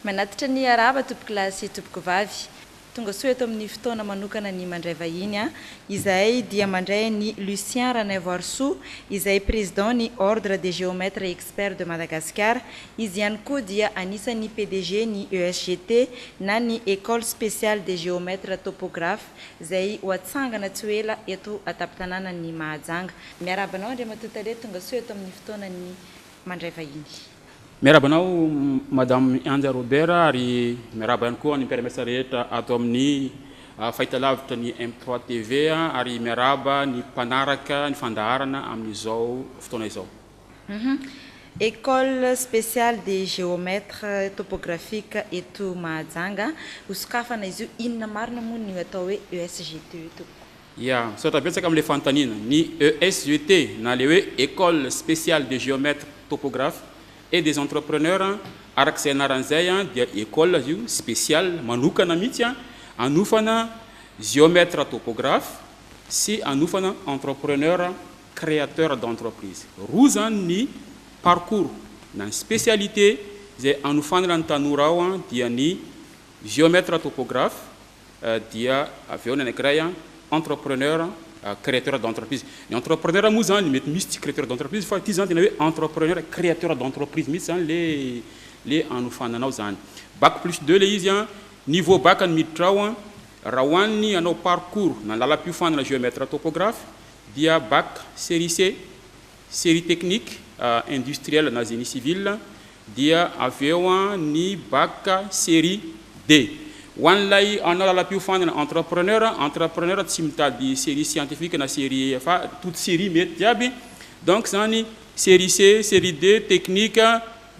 Manatitra ny harava tompokolahy sy tompokovavy. Tonga soa eto amin'ny fotoana manokana ny mandray vahiny an! Izahay dia mandray an'i Lucien Ranaivoarisoa, izay président ny Ordre des Géomètres et Sphère de Madagascar, izy ihany koa dia anisan'ny PDG ny ESGT na ny Ecole Speciale des Géomètres Topographes izay ho atsangana tsy ho ela eto an-tampon-tanànan'i Mahajanga. Miarahaba anao Andriamatoa Tale, tongasoa eto amin'ny fotoanan'ny Mandray vahiny. Miarahaba anao Madame Ianja Robert ary miarahaba ihany koa ny mpiara-miasa rehetra ato amin'ny fahitalavitra ny M trois TV ary miarahaba ny mpanaraka ny fandaharana amin'izao fotoana izao. Humm école spéciale des géomètres topographiques eto Mahajanga hosokafana izy io, inona marina moa ny atao hoe ESGT io tompoko? Ya, misaotra betsaka amin'ilay fanontaniana. Ny ESGT na ilay hoe école spéciale des géomètres topographes et des entrepreneurs araka izay anarany izay dia école izy io spéciale manokana mihitsy hanofana géomètres topographes sy hanofana entrepreneurs créateur d'entreprise. Roa izany ny parcours na ny spécialité izay hanofanana ny tanora ao dia ny Géomètre topographe dia avy eo ny anankiray Entrepreneur créateur d'entreprise. Ny Entrepreneur moa izany mety misy tsy créateur d'entreprise fa ity izany tena hoe Entrepreneur créateur d'entreprise mihitsy izany ilay ilay hanofanana ao izany. Bac plus deux ilay izy an, niveau bac no miditra ao an, raha ho an'ny hanao parcours na ny lalam-piofanana Géomètre topographe dia Bac série C, série technique, industrielle na génie civil, dia avy eo ny Bac série D. Ho an'ilay hanao lalam-piofanana entrepreneur, entrepreneur tsy mitady série scientifique na série fa toute série mety jiaby, donc izany série C, série D, technique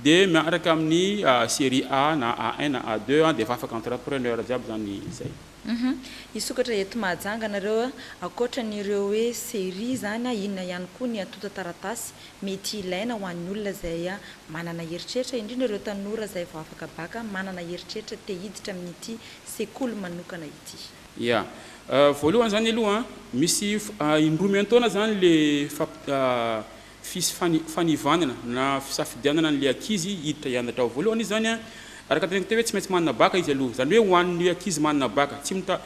dia miaraka amin'ny série A na A1 na A2 dia efa afaka entrepreneur jiaby izany izay. Humm hisokatra eto Mahajanga nareo a! Ankoatran'ireo hoe serie izany a, inona ihany koa ny antontan-taratasy mety hilaina ho an'ny olona izay manana eritreritra, indrindra ireo tanora izay vao afaka bac manana eritreritra te hiditra amin'ity sekoly manokana ity? Ya. Voalohany izany aloha an, misy indroa miantaona izany ilay fampi fis, fani, fanivanana na fisafidianana an'ilay ankizy hiditra hianatra ao. Voalohany izany an, araka ny teneniko teo hoe tsy maintsy manana baka izy aloha. Izany hoe ho an'ny ankizy manana baka, tsy mita,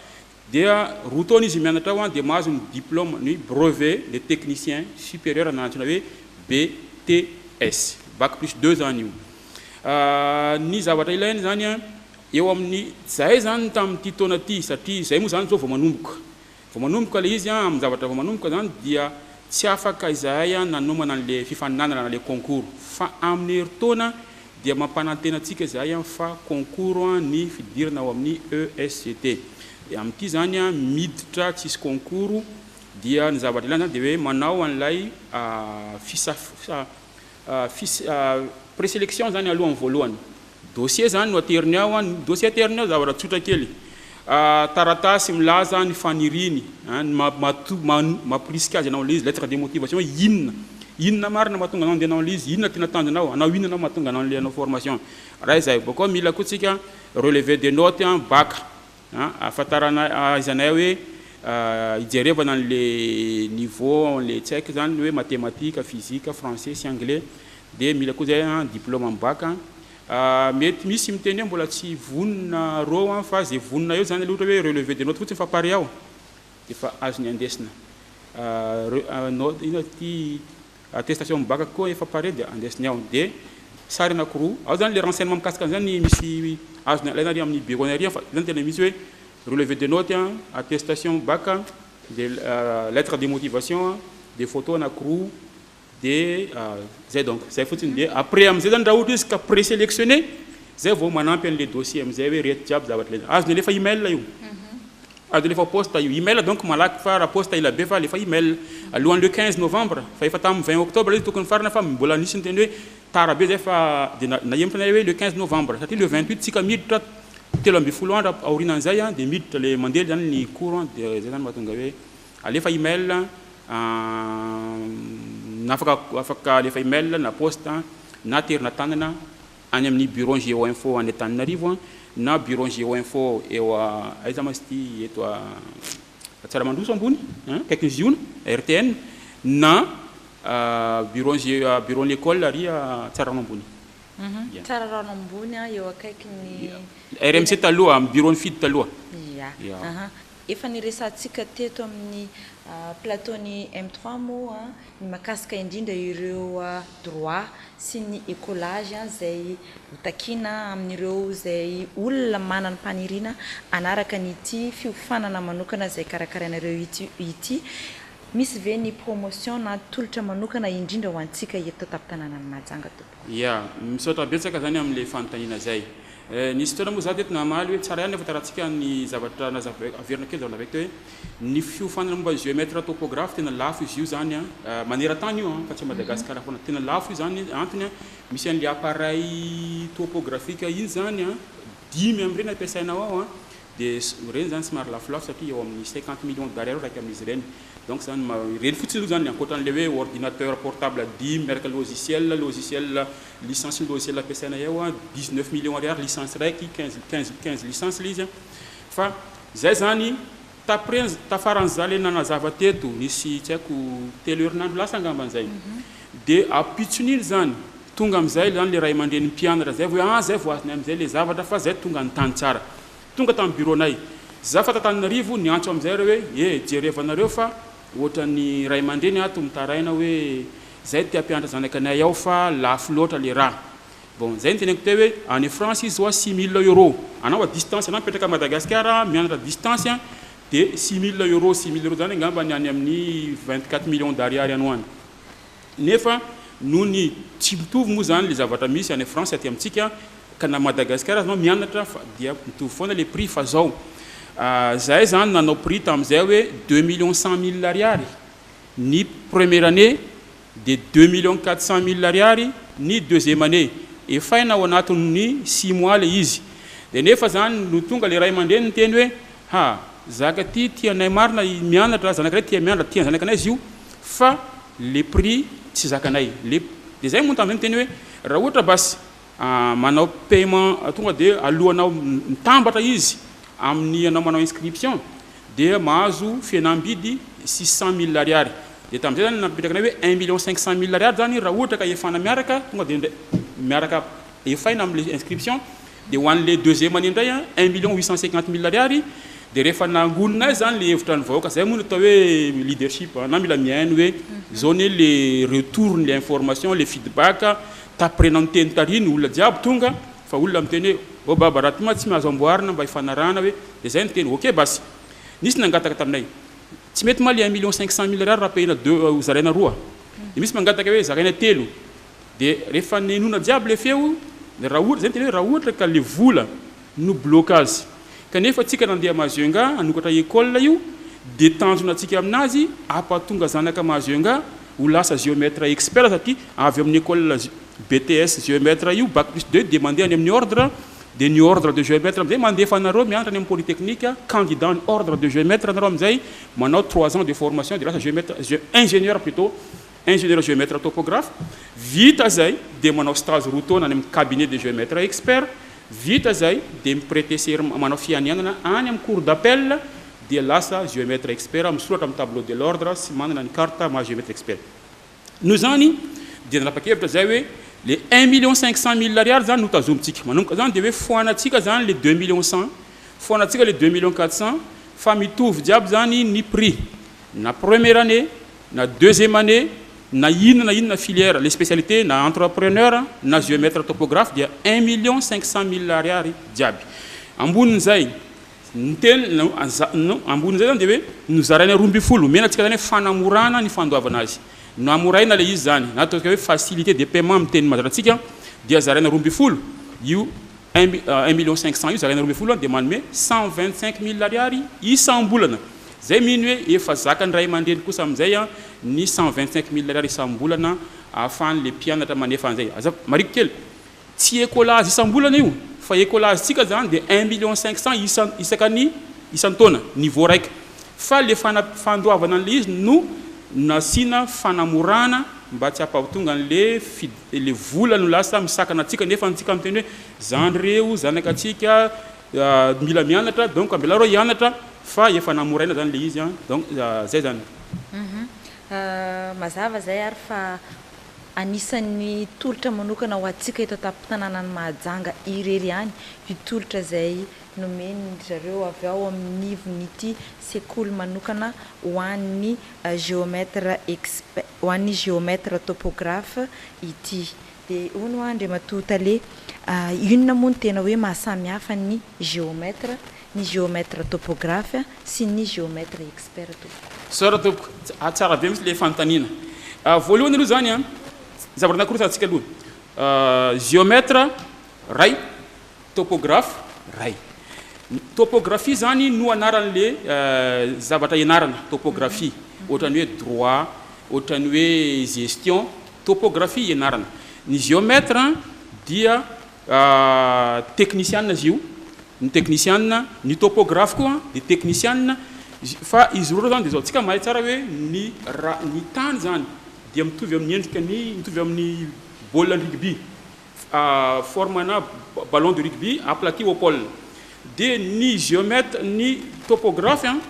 dia roa taona izy mianatra ao an, dia mahazo ny diplôme, ny brevet de technicien supérieur na antsoina hoe BTS. Bac plus deux izany io. Ny zavatra ilaina izany an, eo amin'ny, izahay izany tamin'ity taona ity, satria izahay moa izany izao vao manomboka, Vao manomboka ilay izy, amin-javatra vao manomboka izany dia tsy afaka izahay nanomana an'ilay fifaninanana na ilay concours. Fa amin'ny herintaona dia mampanantena antsika izahay fa concours ny fidirana ao amin'ny ESGT. Dia amin'ity izany miditra tsisy concours dia ny zavatra ilana izany dia hoe manao an'ilay fisaf, Fis, Preselection zany aloha ny voalohany. Dossier zany no ateriny ao an, dossier ateriny ao zavatra tsotra kely. Taratasy milaza ny faniriany an, ny maha mahato maha mampirisika azy hanao an'ilay izy, lettre de motivation hoe inona? Inona marina mahatonga anao andeha hanao an'ilay izy? Inona tena tanjonao? Hanao inona anao mahatonga anao an'ilay hanao formation? Raha izay. Bakeo mila koa tsika relevé de note an, bac. Ahafantaranay, ahaizanay hoe ijerevana an'le niveau an'le tsaiky zany hoe matematika, fizika, français sy anglais de mila koa zay diploma am bac. Mety misy miteny hoe mbola tsy vonona reo an fa ze vonona eo zany aloha ohatra hoe relevé de note fotsiny fa pare aho defa azony andesina. Inona ty? Attestation mibaka koa efa pare dia andraisiny ao. Dia sary anankiroa. Ao zany le renseignement mikasika an'izany misy azony alaina ary amin'ny bureau-ny ary fa zany tena misy hoe relevé de note, attestation mibaka, dia lettre de motivation, dia photo anankiroa, dia zay donc. Zay fotsiny dia après am'zay zany raha ohatra izy ka présélectionné zay vao manampy an'le dossier am'zay hoe reto jiaby zavatra ilaina. Azony alefa email io. Ady le fa poste io email donc malaky fa ra poste elabe fa alefa email alohan'ny le quinze novembre fa efa tamin'ny vingt octobre le tokony farana fa mbola nisy niteny hoe tara be zay fa de nahemotra anay hoe le quinze novembre satria le vingt huit tsika miditra telo ambin'ny folo andro aorinan'izay an de miditra le mandeha zany ny cours an de zay zany mahatonga hoe alefa email an na afaka afaka alefa email na poste na aterina tanana any amin'ny bureau ny Géo Info any Antananarivo na bureau ny Géo Info eo aiza ma izy ity eto Antsaramandroso ambony akaikin'ny Ziona RTN na bureau ny bureau ny école ary Tsararano ambony Ia. Tsararano ambony eo akaikin'ny. RMC taloha, amin'ny bureau ny Fidy taloha. Ia. Ia. Efa niresahantsika teto amin'ny plateau-n'ny M-trois moa ny mahakasika indrindra ireo droit sy ny ecolage izay ho takiana amin'ireo izay olona manana ny faniriana hanaraka an'ity fiofanana manokana izay karakarainareo ity. Misy ve ny promotion na tolotra manokana indrindra ho antsika eto an-tampon-tanànan'i Mahajanga tompoko? Ya, misaotra betsaka izany amin'ilay fanontaniana izay. Nisy fotoana moa za teto namaly hoe tsara ihany nefa taratsika ny zavatra nazava averina kely zany navy teo hoe ny fiofanana momba ny géomètre topographe tena lafo izy io zany an manerantany io an fa tsy a Madagascar foana tena lafo io zany antony an misy anle appareil topographique iny zany an dimy amreny ampiasainao ao an Dia ireny zany somary lafolafo satria eo amin'ny cinquante millions d'Ari eo raika amin'izy ireny. Donc zany ma, ireny fotsiny aloha zany ankoatra an'ilay hoe ordinateur portable dimy miaraka logiciel, logiciel licence ny logiciel ampiasaina eo a, dix neuf millions Ariary licence raiky, quinze, quinze, quinze licence ilay izy a. Fa zay zany, t'après, tafaran'za le nanazava teto, nisy tsy haiko telo herinandro lasa angamba zay. Dia ampitson'iny zany, Tonga amizay zany le ray aman-drenin'ny mpianatra zay vao hoe ah zay vao azonay amizay le zavatra fa zay tonga ny tany tsara. Tonga tamy bureau-nay. Za fa t'Antananarivo niantso amizay reo hoe e jereva nareo fa ohatran'ny ray aman-dreny ato mitaraina hoe zay te ampianatra zanaka anay ao fa lafo loatra le raha. Bon zay niteneniko teo hoe any France izy zao six mille euro anao à distance anao mipetraka à Madagascar mianatra à distance an de six mille euro, six mille euro zany angamba ny any amin'ny vingt quatre millions d'ariary any ho any. Nefa noho ny tsy mitovy moa izany ilay zavatra misy any France aty amintsika ka na Madagascar aza anao mianatra fa dia mitovy foana ilay prix fa izao izahay izany nanao prix tamin'izay hoe deux millions cent mille ariary ny première année dia deux millions quatre cent mille ariary ny deuxième année efaina ao anatin'ny six mois ilay izy dia nefa izany no tonga ilay ray aman-dreny niteny hoe ha zaka ity tianay marina mianatra zanakiray tia mianatra tian'ny zanakanay izy io fa Le prix tsy zakanay le de zay moa nitandrina niteny hoe raha ohatra bas manao paiement tonga de alohanao mitambatra izy amin'ny anao manao inscription dia mahazo fihenam-bidy six cent mille ariary de tamin'izay zany napetrakanay hoe un million cinq cent mille ariary zany raha ohatra ka efana miaraka tonga de ndray miaraka efaina amle inscription Dia ho an'ilay deuxième année indray an, un million huit cent cinquante mille ariary, dia rehefa nangonina azy izany ilay hevitra ny vahoaka, izay moa no atao hoe leadership an, na mila mihaino hoe izao anie ilay retour-n'ilay information, ilay feedback, taprena miteny tary ny olona jiaby tonga, fa olona miteny hoe oh baba raha ty ma tsy mahazo amboarina mba hifanarahana hoe, dia izay ny teny, ok basy. Nisy nangataka taminay, tsy mety ma ilay un million cinq cent mille ariary rapahina deux, zaraina roa? Dia misy mangataka hoe zaraina telo? Dia rehefa nenona jiaby le feo, dia raha ohatra, zay no tena hoe raha ohatra ka le vola no bloka azy, kanefa antsika nandeha Majunga hanokatra école io, dia tanjona antsika aminazy ampatonga zanaka Majunga ho lasa géomètre expert satria avy amin'ny école BTS géomètre io, bac plus deux dia mandeha any amin'ny ordre, dia ny ordre de géomètre amin'izay mandefa anareo mianatra any amin'ny polytechnique, candidat an'ny ordre de géomètre nareo amin'izay, manao trois ans de formation dia lasa géomètre, ingénieur plutôt, Ingénieur géomètre topographe, vita zay dia manao stage roa taona any amin'ny cabinet de géomètre expert, vita zay dia mi-preter serment, manao fianianana any amin'ny cour d'appel dia lasa géomètre expert, misoratra amin'ny tableau de l'ordre sy manana ny carte maha géomètre expert. Noho izany dia nanapa-kevitra zay hoe le un million cinq cent mille ariary zany no tazomintsika, manomboka zany dia hoe foanantsika zany le deux millions cent, foanantsika le deux millions quatre cent fa mitovy jiaby zany ny prix na première année Na deuxième année, na inona na inona filière, le spécialité, na entrepreneur, na géomètre topographe dia un million cinq cent mille ariary jiaby. Ambonin'izay, ny teny no, za, no, ambonin'izay zany dia hoe nozaraina roa ambin'ny folo, omena antsika zany hoe fanamorana ny fandoavana azy. Namoraina ilay izy zany, na ataontsika hoe facilité de paiement amin'ny teny mazatra antsika, dia zaraina roa ambin'ny folo, io un, un million cinq cent io zaraina roa ambin'ny folo dia manome cent vingt cinq mille ariary isam-bolana. Zay mino hoe efa zakan'ny ray aman-dreny kosa amin'izay ny cent vingt cinq mille ariary isam-bolana ahafahan'le mpianatra manefa an'izay. Aza mariko kely. Tsy ecolage isam-bolana io fa ecolage-tsika zany dia un million cinq cent isan isaka ny isan-taona, niveau raika. Fa le fana fandoavana an'le izy no nasiana fanamorana mba tsy hampahatonga an'le fid le vola no lasa misakana antsika nefa antsika miteny hoe zandry reo, zanaka antsika, Mila mianatra donc ambela reo hianatra fa efa namoraina zany le izy an donc zay zany. Mazava izay ary fa anisan'ny tolotra manokana ho antsika eto an-tampon-tanànan'i Mahajanga irery ihany io tolotra izay nomen-dry zareo avy ao amin'ny ivon'ity sekoly manokana ho an'ny géomètre exp, ho an'ny géomètre topographe ity. Dia hono hoa Andriamatoa Tale, inona moa no tena hoe mahasamihafa ny géomètre, ny géomètre topographe sy ny géomètre expert tompoko? Sœur tompoko, tsara be mintsy le fanontaniana. Voalohany aloha zany an, zavatra nakorotana antsika aloha, géomètre ray, Topographe, Ray. Topografia izany no anaran'ilay zavatra ianarana, topografia. Ohatran'ny hoe droit, ohatran'ny hoe gestion, topografia ianarana. Ny géomètre dia teknisiana izy io, ny teknisiana. Ny topographe koa dia teknisiana. Fa izy roa ireo izany dia izao, isika mahay tsara hoe ny ra- ny tany izany dia mitovy amin'ny endrika ny, mitovy amin'ny baolina rugby. forme na ballon de rugby aplati au pole dia ny geomète ny topographe an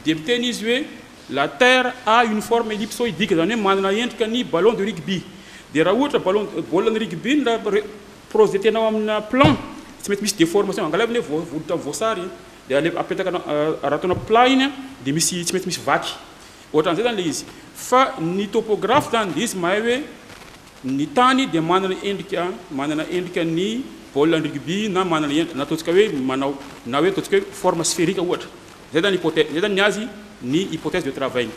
dia miteny izy hoe la terre a une forme ellipsoidique izany hoe manana endrika ny ballon de rugby dia raha ohatra ballon baolina ny rugby ny raha re projet tena ao amina plan tsy mety misy deformation angalaviny hoe volotra ny voasary dia ale apetaka raha ataonao plat iny an dia misy tsy mety misy vaky ohatran'izay izany ilay izy fa ny topographe izany dia izy mahay hoe Ny tany dia manana endrika manana endrika ny baolina rugby na manana endrika na ataontsika hoe manao na hoe ataontsika hoe forme spherique ohatra. Izay zany hypothèse, izay zany ny azy ny hypothèse de travail-ny.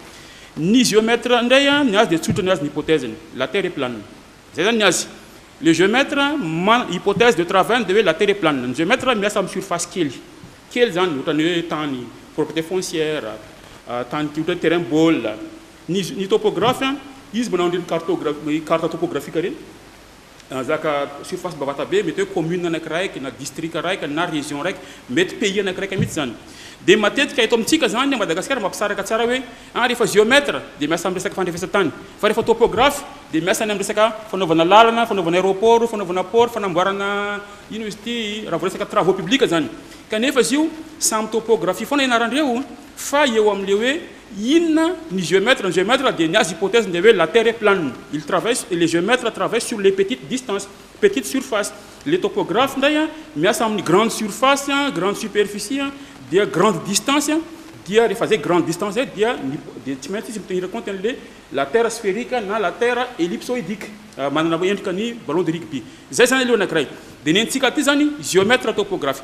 Ny géomètre indray an, ny azy dia tsotra ny azy ny hypothèse-ny, la terre est plane. Izay zany ny azy. Le géomètre mana- hypothèse de travail-ny dia hoe la terre est plane. Ny géomètre miasa amin'ny surface kely. Kely zany ohatran'ny hoe tany, propriété foncière, tany kely ohatran'ny hoe terrain ball. Ny ny topographe an, izy manao an'ireny cartogra- carte topographique ireny, zaka surface bavatabe, mety hoe commune anakiraiky, na district araiky, na region raiky, mety pays anakiraiky mihitsy zany. Dia matetika eto amintsika zany a Madagasikara mampisaraka tsara hoe, ah rehefa géomètre dia miasa amin'ny resaka fandrefesan-tany, fa rehefa topographe dia miasa any amin'ny resaka fanaovana lalana, fanaovana aéroport, fanaovana port, fanamboarana ino izy ity, raha vao resaka travaux publics zany. Kanefa izy io samy topographie foana ianarandreo fa eo amin'ilay hoe Inona ny géomètre? Ny géomètre dia ny azy hypothèse dia hoe la terre est plane. Il travaille, le géomètre travaille sur les petites distances, petites surfaces. Ilay topographe indray miasa amin'ny grande surface, grande superficie, dia grande distance, dia rehefa izay grande distance izay dia ny dia tsy maintsy izy mi-tenir compte an'ilay la terre sphérique na la terre ellipsoïdique, manana endrika ny ballon de rugby. Izay izany aloha ny anankiray. Dia ny antsika aty izany géomètre topographe.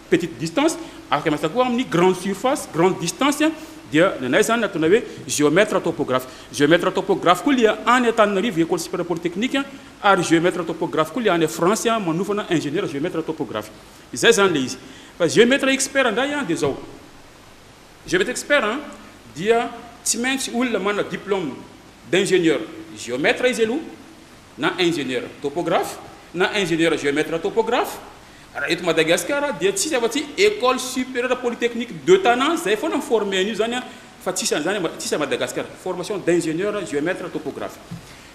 petite distance, afaka miasa koa amin'ny grande surface, grande distance, dia ny anay izany antsoina hoe géomètre topographe. Géomètre topographe koa ilay any Antananarivo, Ecole supérieure polytechnique, ary géomètre topographe koa ilay any France manofana ingénieur géomètre topographe. Izay izany ilay izy. Fa géomètre expert indray dia izao, géomètre expert dia tsy maintsy olona manana diplôme d'ingénieur géomètre izy aloha, na ingeniera topographe na ingeniera geometre topographe raha eto Madagasikara dia tsisy afa tsy ecole superieur polytechnique de Tana zay foana mi-former an'io zany a fa tsisy an'izany tsisy a Madagasikara formation d'ingenieur geometre topographe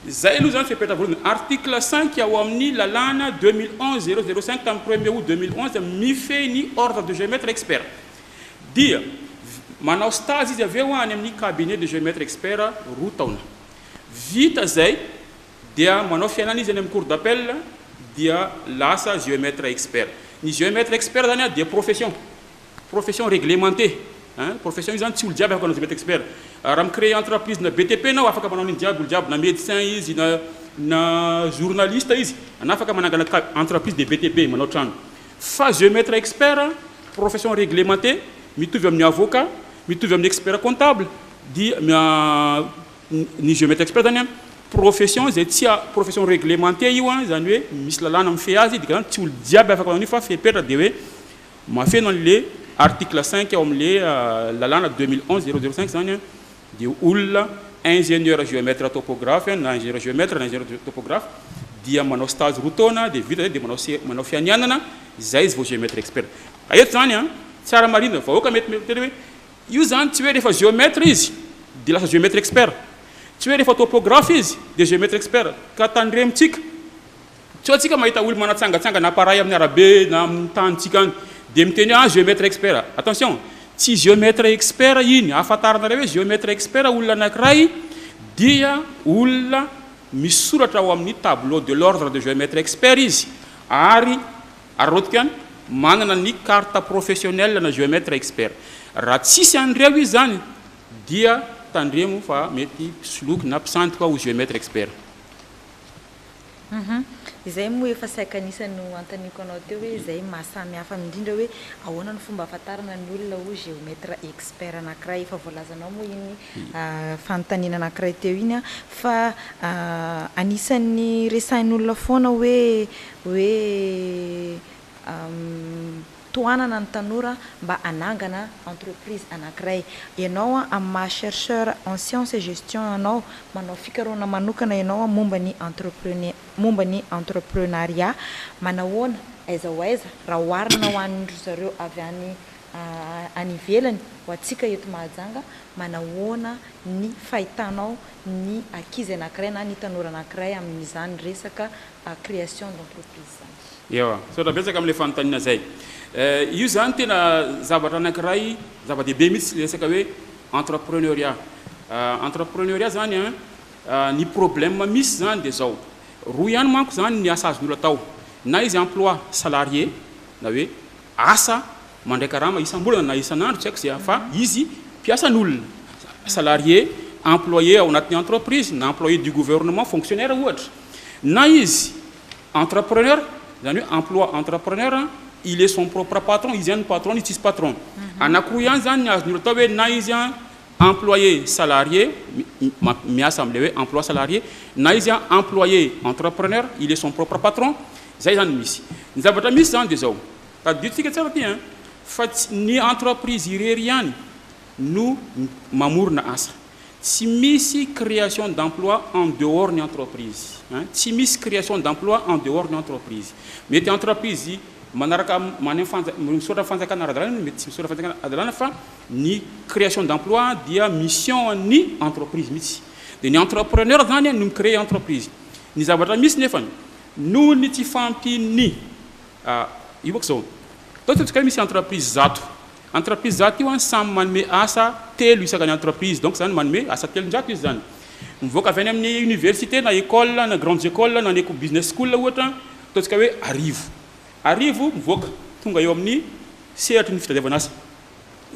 zay aloha zany fepetra voalohany article cinq ao amin'ny lalàna deux mille onze zéro zéro cinq tamin'ny premier aout deux mille onze mifehy ny ordre de geometre expert dia manao stage izy avy eo any amin'ny cabinet de geometre expert roa taona Vita izay dia manao fiainana izy any amin'ny cour d'appel dia lasa géomètre expert. Ny géomètre expert izany dia profession, profession réglementée ein, profession io izany tsy olo jiaby afaka manao géomètre expert. Raha mi-créer entreprise na BTP anao afaka manao an'iny jiaby olo jiaby na médecin izy na na journaliste izy na afaka manangana ka entreprise de BTP manao trano. Fa géomètre expert profession réglementée mitovy amin'ny avocat, mitovy amin'ny expert comptable, dia ny géomètre expert zany an, profession izay tsy profession reglementée io an, izany hoe misy lalàna mifehy azy, dika izany tsy olona jiaby afaka manao an'io fa fepetra dia hoe mahafeno an'le article cinq ao amin'le lalàna deux mille onze zéro zéro cinq izany an, dia olona ingénieur géomètre topographe an, na ingénieur géomètre na ingénieur topographe dia manao stage roa taona dia vita izay dia manao se- manao fianianana, izay izy vao géomètre expert, ka eto izany an, tsara marihina, vahoaka mety miteny hoe. Io izany tsy hoe rehefa géomètre izy dia lasa géomètre expert, tsy hoe rehefa topographe izy dia géomètre expert, ka tandremontsika sao isika mahita olona manatsangatsangana appareil amin'ny arabe na amin'ny tanintsika any dia miteny hoe ah géomètre expert, attention tsy géomètre expert iny, ahafantaranareo hoe géomètre expert olona anankiray dia olona misoratra ao amin'ny tableau de l'ordre de géomètre expert izy ary Ary rahoto koa any manana ny carte professionnelle na géomètre expert. Raha tsisy an'ireo izy zany dia tandremo fa mety soloky na mpisandoka ho géomètre expert. Izay moa efa saika anisany no anontaniko anao teo hoe izay maha samy hafa aminy indrindra hoe ahoana no fomba ahafantarana ny olona ho géomètre expert anankiray. Efa voalazanao moa iny fanontaniana anankiray teo iny fa anisan'ny resahin'olona foana hoe hoe tohanana ny tanora mba hanangana entreprise anankiray. Ianao amin'ny maha chercheur en science et gestion anao, manao fikarohana manokana ianao momba ny entreprenea- momba ny entreprenariat, manahoana, aiza ho aiza raha oharina ho an'dry zareo avy any any ivelany ho antsika eto Mahajanga, manahoana ny fahitanao ny ankizy anankiray na ny tanora anankiray amin'izany resaka création d'entreprise izany? Ewa, misaotra betsaka amin'ilay fanontaniana izay. Io izany tena zavatra anankiray zava-dehibe mihitsy ilay resaka hoe entrepreneuriat. Entrepreneuriat izany an, ny problème misy izany dia izao, roa ihany manko izany ny asa azon'ny olona atao, na izy emploi salarié na hoe asa mandray karama isam-bolana na isan'andro, tsy haiko izay, fa izy mpiasan'olona, salarié, employé ao anatin'ny entreprise, na employé du gouvernement, fonctionnaire ohatra, na izy entrepreneur, izany hoe emploi entrepreneur, il est son propre patron, izy ihany no patron-ny, tsisy patron. Anankiroa ihany izany ny azon'ny olona atao hoe na izy Employé salarié, miasa amin'ilay hoe emploi salarié, na izy employé entrepreneur, il est son propre patron, izay izany no misy. Ny zavatra misy izany dia izao, tadidintsika tsara ity an, fa tsy ny entreprise irery ihany no mamorona asa. Tsy misy création d'emploi en dehors ny entreprise an, tsy misy création d'emploi en dehors ny entreprise. Mety entreprise manaraka, misaotra ny fanjakana ara-dalàna, mety tsy misaotra ny fanjakana ara-dalàna fa. Ny création d'emploi dia mission an'ny entreprise mihitsy. Dia ny entrepreneur izany no mi-créer entreprise. Ny zavatra misy nefany, noho ny tsy fahampian'ny, io manko izao, atao ataontsika hoe misy entreprise zato. Entreprise zato io samy manome asa telo isakany entreprise, donc izany manome asa telonjato izy izany. Mivoaka avy any amin'ny université na école na grandes écoles na ny business school ohatra, ataontsika hoe arivo. Arivo mivoaka tonga eo amin'ny sehatry ny fitadiavana asa.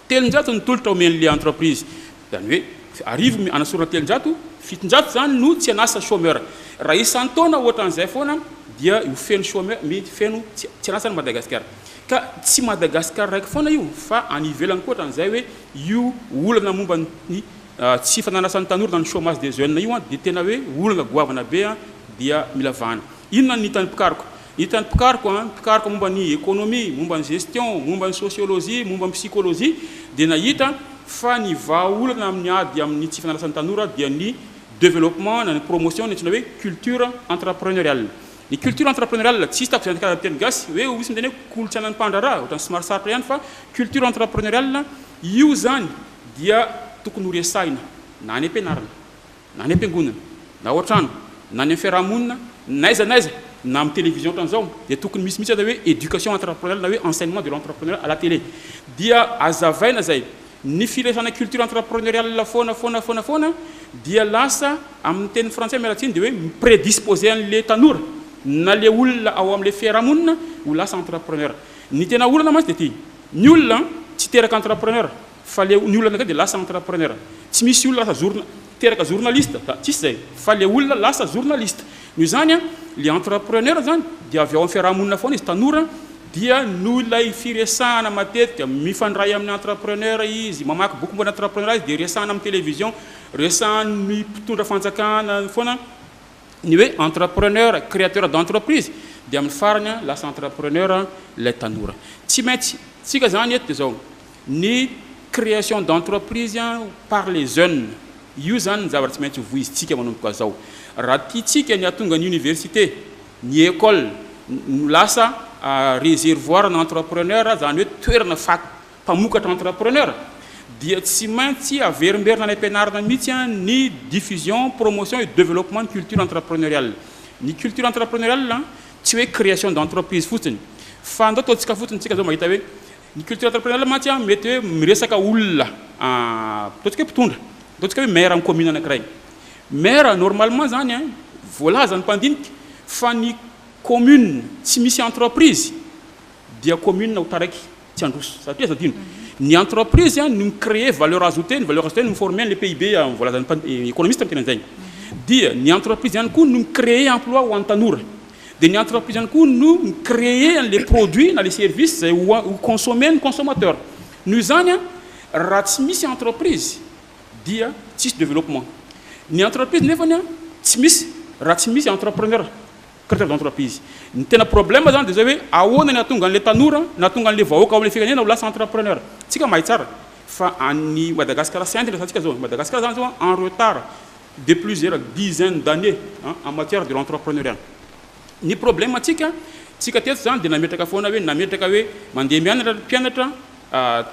Telonjato ny tolotra omen'ilay entreprise. Izany hoe arivo hanasorana telonjato, fitonjato izany no tsy an'asa, chômeur. Raha isan-taona ohatran'izay foana dia ho feno chômeur, mety feno tsy an'asa ny Madagasikara. Ka tsy Madagasikara raiky foana io fa any ivelany koa ohatran'izay hoe io olana momba ny tsy fanan'asan'ny tanora na ny chômage des jeunes io dia tena hoe olana goavana be dia mila vahana. Inona no hitan'ny mpikaroka? Hitan'ny mpikaroka, ny mpikaroka momba ny ekonomia, momba ny gestion, momba ny sosiolojia, momba ny psikolojia dia nahita fa ny vahaolana amin'ny ady amin'ny tsy fanarasan'ny tanora dia ny developpement na ny promotion ny antsoina hoe culture entrepreneuriale. Ny culture entrepreneuriale, tsy hisy tamin'izay nandikanana ny teny gasy hoe misy miteny hoe kolontsainan'ny mpandraharaha, ohatran'ny somary sarotra ihany fa culture entrepreneuriale io izany dia tokony ho resahina na any am-pianarana. Na any am-piangonana, na ao an-trano, na any amin'ny fiaraha-monina, n'aiza n'aiza, na amin'ny télévision ohatran'izao, dia tokony misy mihitsy aza hoe éducation entrepreneuriale na hoe enseignement de l'entrepreneuriat à la télé. Dia azavaina izay. Ny firesana culture entrepreneuriale foana foana foana foana dia lasa, amin'ny teny frantsay, miala tsiny, dia hoe mi-prédisposer an'ilay tanora, na ilay olona ao amin'ilay fiaraha-monina ho lasa entrepreneur. Ny tena olana mantsy dia ity, ny olona tsy teraka entrepreneur. Fa le ny olona avekeo de lasa entrepreneur tsy misy olona lasa journa teraka journaliste ka tsisy zay fa le olona lasa journaliste noho izany a le entrepreneur zany de avy ao am fiarahamonina foana izy tanora dia noho ilay firesahana matetika mifandray aminy entrepreneur izy mamaky boky momba ny entrepreneur izy de resahana am television resahan'ny mpitondra fanjakana foana ny hoe entrepreneur, créateur d'entreprise dia amin'ny farany lasa entrepreneur ilay tanora. Tsy maintsy, tsika izany eto dia izao, ny création d'entreprise par les jeunes, io izany ny zavatra tsy maintsy hovoizintsika manomboka izao. Raha tiantsika ny hahatonga ny université, ny école ho lasa réservoir-na entrepreneur, izany hoe toerana mpamokatra entrepreneur dia tsy maintsy averimberina any am-pianarana mihitsy ny diffusion, promotion et développement ny culture entrepreneuriale. Ny culture entrepreneuriale tsy hoe création d'entreprise fotsiny fa ndao ataontsika fotsiny tsika zao mahita hoe ny culture entrepreneuriale mantsy mety hoe miresaka olona ataontsika hoe mpitondra, ataontsika hoe maire ny commune anankiray. Maire normalement zany voalazan'ny mpandinika fa ny commune tsy misy entreprise, dia commune ho taraiky tsy handroso satria aza adino ny entreprise no mi créer valeur ajoutée ny valeur ajoutée no mi former an'le PIB voalazan'ny mpan economiste miteny an'zegny dia ny entreprise ihany koa no mi créer emploi ho an'ny tanora dia ny entreprise ihany koa no mi créer an'le produit na le service zay ho a ho consommer ny consommateur noho izany a raha tsy misy entreprise dia tsisy développement ny entreprise nefany a tsy misy raha tsy misy entrepreneur. Carte blanche d'entreprise. Ny tena problème zany de zay hoe ahoana ny hahatonga an'ilay tanora na hahatonga an'ilay vahoaka ao amin'ilay firenena ho lasa entrepreneur. Tsika mahay tsara fa any Madagascar sy any ndray zany tsika zao, Madagascar zany zao en retard de plusieurs dizaines d'années an en matière de l'entrepreneuriat. Ny problème antsika, tsika teto zany de nametraka foana hoe nametraka hoe mandeha mianatra ny mpianatra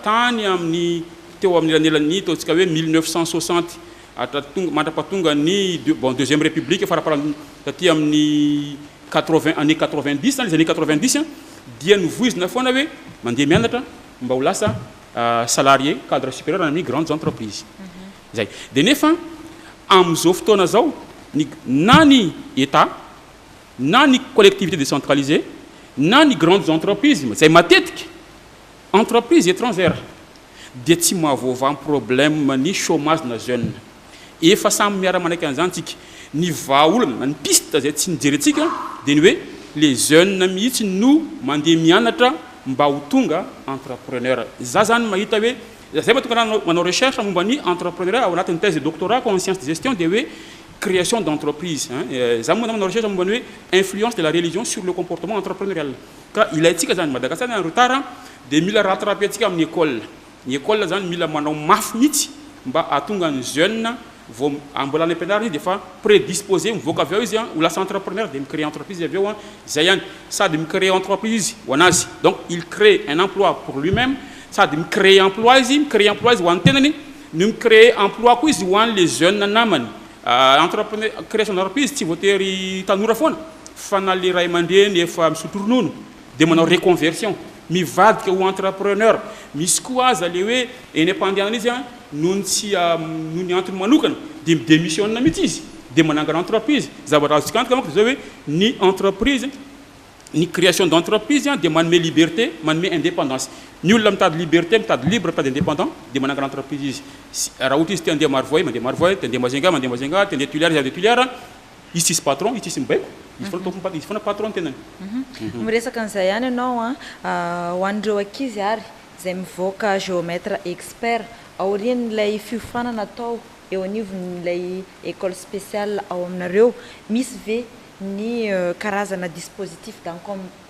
tany amin'ny teo amin'ny elanelan'ny ataontsika hoe mille neuf cent soixante. Hatratonga mandrapatonga ny bon deuxième république faraparany taty amin'ny quatre vingt année quatre vingt dix les années quatre vingt dix dia novoizina foana hoe mandeha mianatra mba ho lasa salarié cadre supérieur any amin'ny grandes entreprises zay de nefa amin'izao fotoana zao ny na ny état na ny collectivité décentralisée na ny grandes entreprises izay matetika Entreprise etrangère dia tsy mahavoavaha ny problème ny chômage na jeune. Efa samy miara manaiky an'izany tsika. Ny vahaolana na ny piste izay tsy nijerentsika dia ny hoe le jeune mihitsy no mandeha mianatra mba ho tonga entrepreneur. Za zany mahita hoe za zay mahatonga anah manao recherche momba ny entrepreneuriat ao anatin'ny thèse de doctorat-ko en science de gestion dia hoe création d'entreprise. Za moa zany manao recherche momba ny hoe influence de la religion sur le comportement entrepreneurial. Ka ilaintsika izany, Madagascar zany retard dia mila rattraper ntsika amin'ny école, ny école zany mila manao mafy mihitsy mba hahatonga ny jeune vao ambola any ampianarana izy dia efa prédisposé mivoaka avy ao izy ho lasa entrepreneur dia mi créer entreprise izy avy eo, izay ihany, sady mi créer entreprise izy ho an'azy, donc il crée un emploi pour lui même, sady mi créer emploi izy, mi créer emploi izy ho an'ny tenany no mi créer emploi koa izy ho an'ilay jeune namany. Entrepreneur, création d'entreprise tsy voatery tanora foana fa na le ray aman-dreny efa misotro ronono dia manao reconversion mivadika ho entrepreneur, misy koa aza le hoe eny am-pandehanana izy an noho ny tsy noho ny antony manokana dia mi-demissionne mihitsy izy dia manangana entreprise, zavatra azontsika antoka manko dia zao hoe ny entreprise Ny création d'entreprise dia manome liberté, manome indépendance. Ny olona mitady liberté, mitady libre, mitady indépendant dia manangana entreprise izy. Raha ohatra izy te handeha Marovoay, mandeha Marovoay, te handeha Majunga, mandeha Majunga, te handeha Tuileries, handeha Tuileries. Izy tsisy patron, izy tsisy mibaiko, izy foana tompony patron, izy foana patron ny tenany. Miresaka an'izay ihany ianao an, ho an'ireo ankizy ary izay mivoaka géomètre expert aorian'ilay fiofanana atao eo anivon'ilay école spéciale ao aminareo, misy ve ny karazana dispositif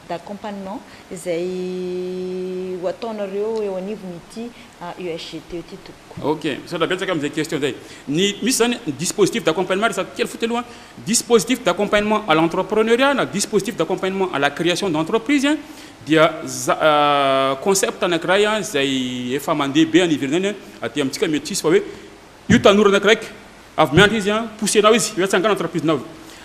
d'accompagnement izay ho ataonareo eo anivon'ity UHGT ity tompoko. Ok, misaotra betsaka amin'izay question izay. Ny misy izany ny dispositif d'accompagnement, resako kely fotsiny aloha, dispositif d'accompagnement à l'entrepreneuriat na dispositif d'accompagnement à la création d'entreprise dia concept anankiray izay efa mandeha be any ivelany any, aty amintsika mety tsy hisy fa hoe, Io tanora anakiraiky avy miandry izy an, poussenao izy hoe tsangano entreprise-nao.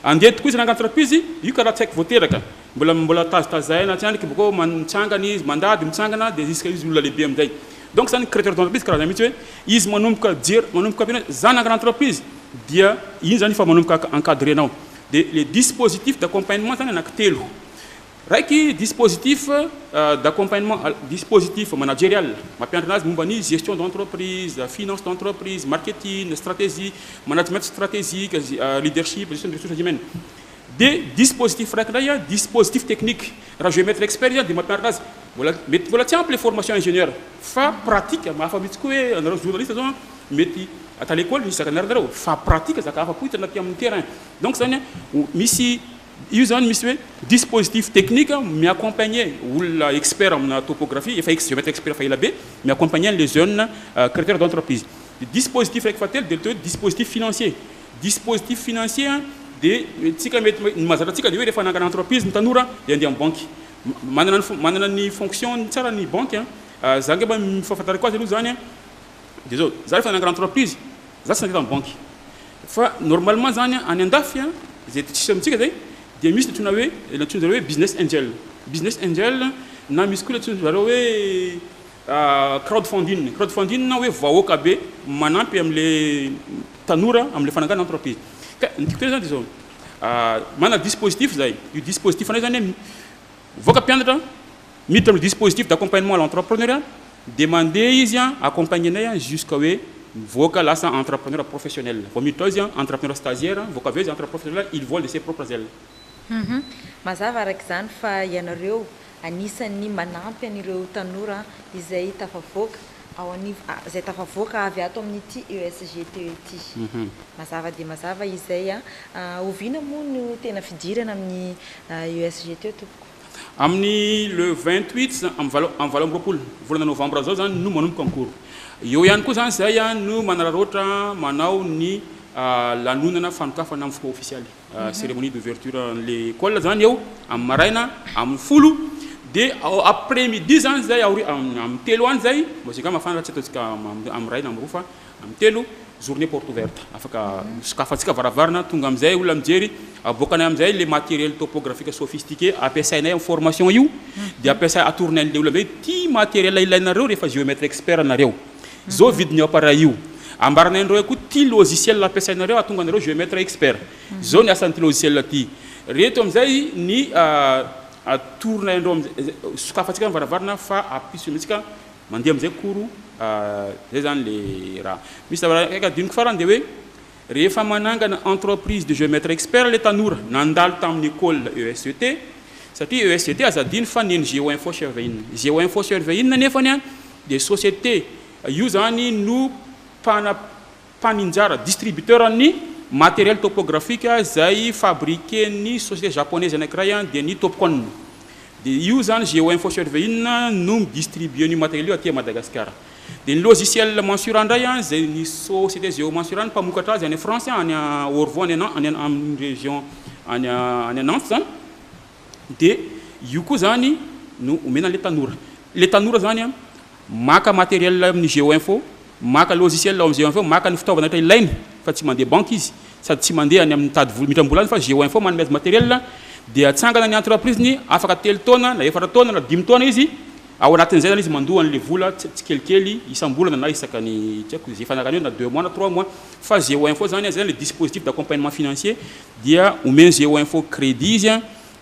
Andeha tokoa izy naka entreprise, io ka raha tsy haiko vao teraka. Mbola mbola tazitazahina tsy andrika bakeo man mitsangana izy, mandady mitsangana dia jusqu'à izy olona lehibe amin'izay. Donc zany créateur d'entreprise karazana mihitsy hoe izy manomboka jery manomboka tena hoe za nangana entreprise dia iny zany efa manomboka encadrer-nao. Dia le dispositif d'accompagnement zany anakitelo. Raiky, dispositif d'accompagnement, dispositif managerial, mampiantrana azy momba ny gestion d'entreprise, finance d'entreprise, marketing, stratégie, management stratégique, leadership, gestion des ressources humaines. Dia dispositif raiky indray, dispositif technique, raha géomètre expert izy dia mampiantrana azy, mbola, mety mbola tsy ampy ilay formation ingénieur fa pratique, mahafa mihitsy koa hoe anareo journaliste zao mety at à l'école misy zaka nianaranareo fa pratique zaka hafa koa hitanao aty amin'ny terrain. Donc zany hoe misy Io izany misy hoe dispositif technique mi-accompagner olona expert amina topographie, efa ex géomètre expert efa ela be, mi-accompagner an'ilay jeune créateur d'entreprise. Dia dispositif iraika fahatelo dia ilay atao hoe dispositif financier. Dispositif financier dia tsika mety hoe, ny mahazatra antsika dia hoe rehefa hanangana entreprise ny tanora dia handeha amin'ny banky. Manana ny, manana ny fonction-ny tsara ny banky an! Za angamba ny fahafantarako azy aloha izany an, dia izao, za rehefa hanangana entreprise Za tsy nandritra ny banky fa normalement zany any andafy a zay aty tsisy amintsika zay dia misy ny antsoina hoe le antsoin zareo hoe business angel business angel na misy koa le antsoin zareo hoe crowd funding crowd funding na hoe vahoaka be manampy amle tanora amle fananganana entreprise ka ny tiako tena zany de zao manana dispositif zay io dispositif anay zany hoe mivoaka mpianatra Miditra amin'ny dispositif d'accompagnement à l'entrepreneuriat dia mandeha izy an, accompagner-nay an jusqu'à hoe mivoaka lasa entrepreneur professionnel. Vao miditra ao izy an, entrepreneur stagiaire an, mivoaka avy eo izy entre professionnel, il vole de ses propres ailes. Humm. Mazava araka izany fa ianareo anisan'ny manampy an'ireo tanora izay tafavoaka ao anivo, izay tafavoaka avy ato amin'ity ESGTE ity. Mazava dia mazava izay an. Oviana moa no tena fidirana amin'ny ESGTE tompoko? Amin'ny le vingt huit izany, amin'ny valo amin'ny valo amby roapolo volana novambra izao izany no manomboka ny cours. Eo ihany koa izany izay no manararaotra manao ny lanonana fanokafana amin'ny fomba ofisialy, cérémonie d'ouverture an'ilay école izany eo amin'ny maraina amin'ny folo dia ao après midi izany izay, aoriana, amin'ny telo any izay, mba izay angamba mafana raha tsy ataontsika amin'ny ray na amin'ny roa fa Am telo, journée porte ouverte, afaka sokafantsika varavarana, tonga amin'izay olona mijery, aboakanay amin'izay le matériel topographique sophistiqué ampiasainay am formation io, dia ampiasay atorony an'le olona hoe ty matériel ilainareo rehefa géomètre expert nareo, zao vidin'io appareil io, ambaranay anareo koa ty logiciel ampiasainareo ahatonga anareo géomètre expert, zao ny asan'ity logiciel ty, reto amin'izay ny atoronay anareo, sokafantsika varavarana fa ampiso amintsika. Mandeha amizay koro a zay zany le raha misy zava raiky adinoko farany de hoe rehefa manangana entreprise de geometre expert le tanora nandalo taminy ecole ESGT satria ESGT aza adino fa neny geo info survey in geo info survey in nefany a de societe io zany no mpana mpaninjara, distributeur, ny matériel topographique izay fabriquer-n'ny société japonaise anankiray dia ny Topcon. Dia io izany Geo-info Survey inn no mi-distribuer an'io matériel io aty à Madagascar. Dia ny logiciel Mansura indray izay ny société Geomansura no mpamokatra azy any France any Orvo any amin'ny région any any Nantes izany dia io koa izany no omena an'ilay tanora. Ilay tanora izany Maka matériel amin'ny Geoinfo, maka logiciel ao amin'ny Geoinfo, maka ny fitaovana rehetra ilainy fa tsy mandeha banky izy sady tsy mandeha any amin'ny mitady vola, mitram-bola any fa Geoinfo manome azy matériel dia atsangana ny entreprise-ny, afaka telo taona na efatra taona na dimy taona izy, ao anatin'izay zany izy mandoa an'ilay vola tsikelikely isam-bolana na isaka ny tsy haiko izay fanarany eo na deux mois na trois mois fa Geoinfo zany, zay zany ilay dispositif d'accompagnement financier dia omen'i Geoinfo crédit izy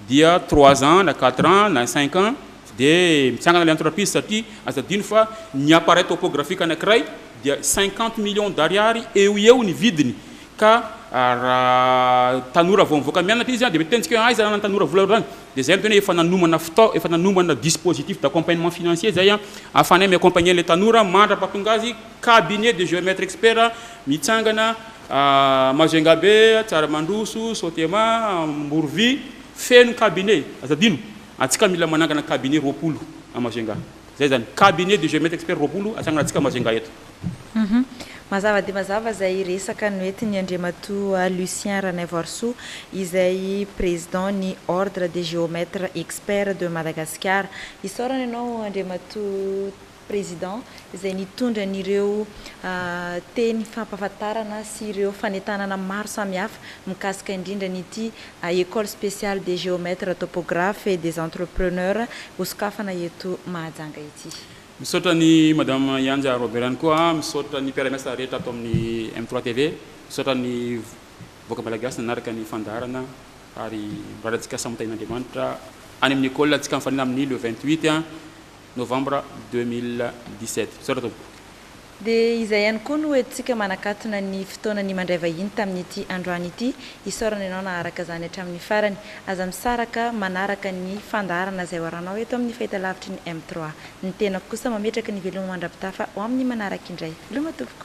dia trois ans na quatre ans na cinq ans dia mitsangana ilay entreprise satria aza adino fa ny appareil topographique anankiray dia cinquante millions d'ariary eo ho eo ny vidiny ka raha tanora vao mivoaka mianatra izy dia mety tenjika hoe aiza ny tanora vola ohatr'izany dia izay no tena hoe efa nanomana fitaovana efa nanomana dispositif d'accompagnement financier izay ahafahanay mi-accompagner ilay tanora mandra-pahatonga azy cabinet de géomètre expert mitsangana A Majungabe, Tsaramandroso, Sotema, Amborovy, feno cabinet, aza adino, antsika mila manangana cabinet roapolo à Majunga, zay zany, cabinet de géomètre expert roapolo atsanganantsika Majunga eto. Humm. Mazava dia mazava izay resaka noentin'i Andriamatoa Lucien Ranaivoarisoa izay Président ny Ordre des Géomètres Experts de Madagasikara. Isaorana ianao Andriamatoa. Président, izay nitondra an'ireo teny fampahafantarana sy ireo fanentanana maro samihafa mikasika indrindra an'ity École Spéciale des Géomètres Topographes et des Entrepreneurs hosokafana eto Mahajanga ity. Misaotra an'i Madame Yanja Robert ihany koa, misaotra ny mpiara-miasa rehetra ato amin'ny M trois TV, misaotra ny vahoaka Malagasy nanaraka ny fandaharana ary mirary antsika samy ho tahian'Andriamanitra any amin'ny École ntsika mifanena amin'ny le vingt huit Novambra deux mille dix sept. Misaotra tompoko. Dia izay ihany koa no hoentintsika manakatona ny fotoana ny mandray vahiny tamin'ity androany ity. Isaorana ianao naharaka izany hatramin'ny farany. Aza misaraka manaraka ny fandaharana izay hoaranao eto amin'ny fahitalavitry ny M trois. Ny tenako kosa mametraka ny veloma mandrapitafa ho amin'ny manaraka indray. Veloma tompoko.